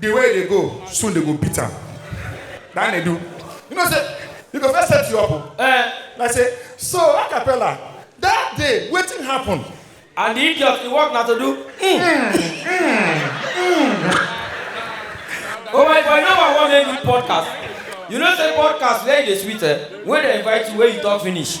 The way they go, soon they go beat am. That they do. You know, say, you go first set you up. oh. Eh, Like say, so a cappella, that day, wetin happen? and the idiot he work na to do. Mm. oh my boy, number one make me podcast. You know say podcast where e dey sweet eh? When they invite you, where you talk finish.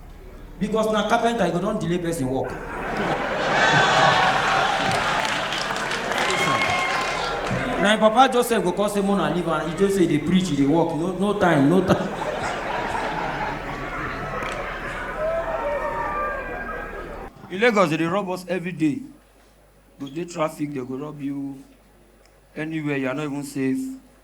because na carpenter you go don delay person work. na im papa joseph go come say mona leave am he just say dey preach he dey work no no time no time. in lagos they dey rob us every day go dey traffic they go rob you anywhere you are not even safe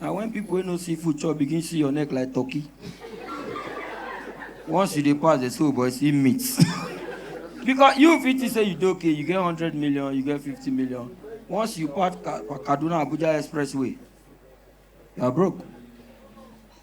na when people wey no see food chop begin see your neck like turkey once you dey pass dey say oh boy see meat because you fit think say you dey okay you get hundred million you get fifty million once you pass Ka- kaduna abuja expressway you are broke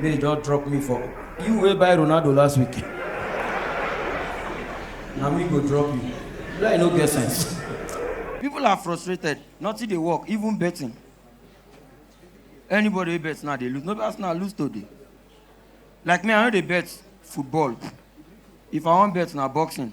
May they just drop me for you wey buy Ronaldo last week. Na me go drop you. Lie no get sense. People are frustrated. Nothing dey work, even betting. Anybody wey bet now dey lose. No be Arsenal lose today. Like me, I no dey bet football. If I wan bet na boxing.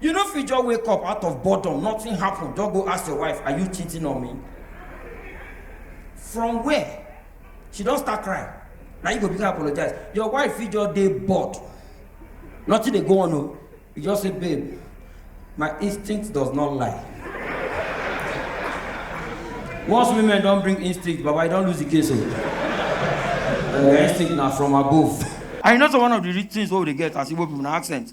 You no fit just wake up out of boredom, nothing happen, just go ask your wife, are you cheating on me? From where? She don start crying. Na you go begin apologize. Your wife fit just dey bored. Nothing dey go on o. You just say, babe, my instinct does not lie. Once women don bring instinct, baba, you don lose the case o. Uh, instinct na from above. And you know so one of the real things wey we dey get as Igbo people na accent.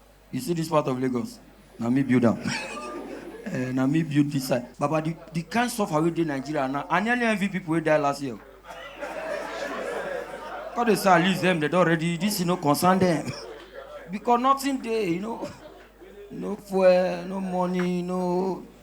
You see this part of Lagos? Na me build am. Eh, na me build this side. Baba, the, the kind suffer wey dey Nigeria now, I nearly envy people wey die last year. Because they say at least them, they don already, this you know concern them. Because nothing dey, you know. No fuel, no money, no